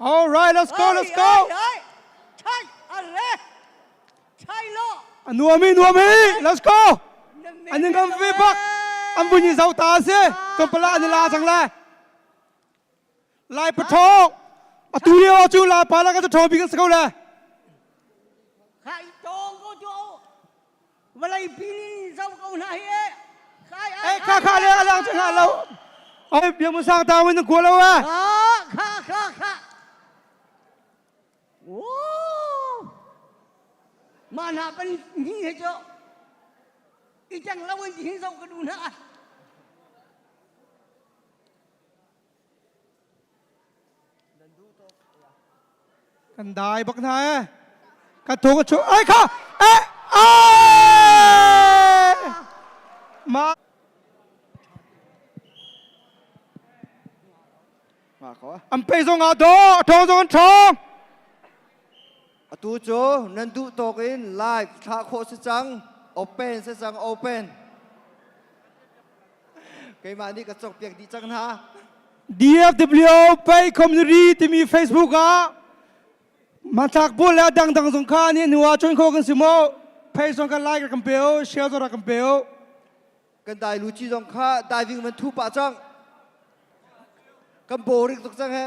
All right, let's go, let's go. A nuam i nuam i, let's go. An ning kan ve bak. An buin zau ta se, kan pala an la sang lai. Lai patho. A tu rio chu la pa la ka to bi ka se ko le. Vawleipi in zoh ko hna hi. Khai ai. kha kha le alang te hna lo. Oi biang sang ta win ku lo a. Kha kha kha. Oh. Ma na pan ni he cho. I chang lo in hin zo ka du na. Kan dai bak hna e. Kan thung a chu. Ai kha. Eh. Ai. Ma. Ma ko. An pe zong a do, a thong zong an thong. Atu cu nan duh tawk in live thlah khawh si cang. Open si cang, open. Keimah nih ka cokpiak dih cang hna. DFW Pay Community timi Facebook ah matlak bu le dangdang zong kha ani hnu ah join kho kan si mo page zong kan like kan pe o share zong kan pe o kan dai luci zong kha diving man thu pah cang kan boring tuk cang he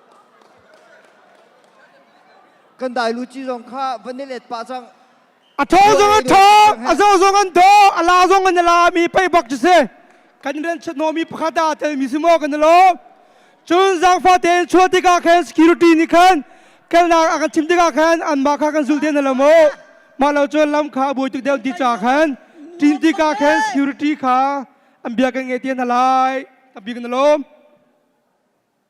Kan dailuci zong kha van i let pah cang. A tho zong an tho, a zo zong an tho, a la zong an la mi pei bak cu si. Kan ren chut no mi pakhat a te mi si mo kan lo. Cun zangfa te in chuah tikah khan security nih khan kalnak a kan chim tikah khan an mah kha kan zul te na lamo. Mah lo cun lam kha a buai tuk deuh ti cha khan tin tikah khan security kha an bia kan nge te na lai. Tabi kan lom.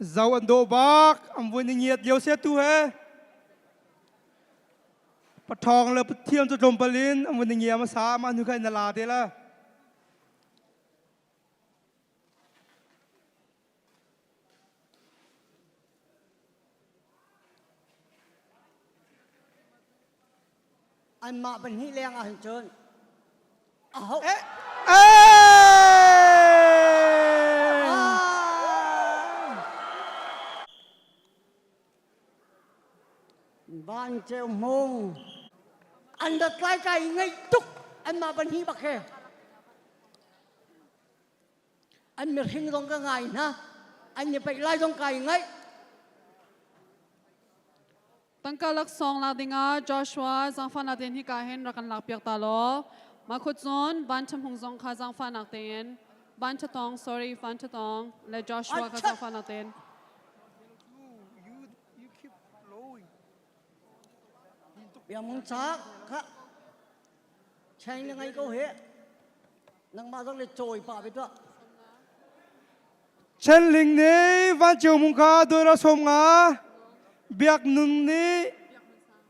Zo an daw bak an vui ni ngiat dio se tu he pathawng le pathiam cu tlawmpal in an vui ni ngia ma sa ma nu kha na la te la Anmah pahnih leng ahhin cun aho eh, Van Ceu Hmung an dat kai kai ngeih tuk anmah pahnih bak he an mirhing zong ka ngai hna an i paih lai zong kai ngaih tangka lak song la dinga Joshua zangfa na ten hi ka hen rakan lak piak ta lo ma khut zon ban cham hung zong kha zangfa nak ten ban cha tong sorry ban cha tong le Joshua ka zangfa na ten biamung chak ka Cheng na ngei ko he. Nangmah zong le cawi pa bit tuah. Chenling nih vanceu mung kha dolar som nga. Biak nun nih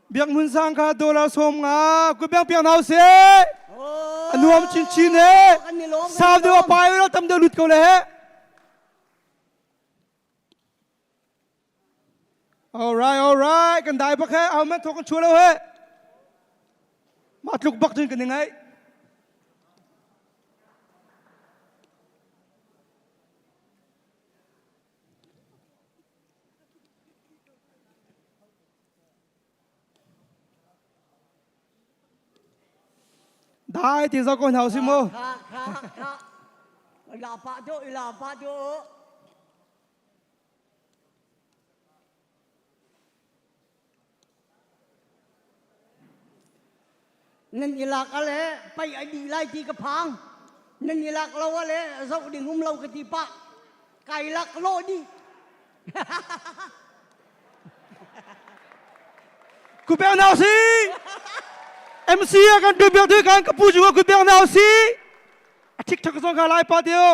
biak nun sang kha dolar som nga. Ku biak piak nau se. Anuam chin chin he. Sau deu a pai lo tam deu lut ko le he. All right, all right. Kan dai bak he, ahohmanh thawk kan chua lo he. Mah tluk bak cun kan i ngaih. Dai ti zo ko hna si mu. Ila pa do, ila pa do. nan ilak ale pai a dih lai ti ka phang nan ilak lo ale zoh ding um lo ka ti pah kai lak lo dih kubel nau si mc a kan du bel tu kan ka pu juga kubel nau si a tik thak zong ka lai pa deu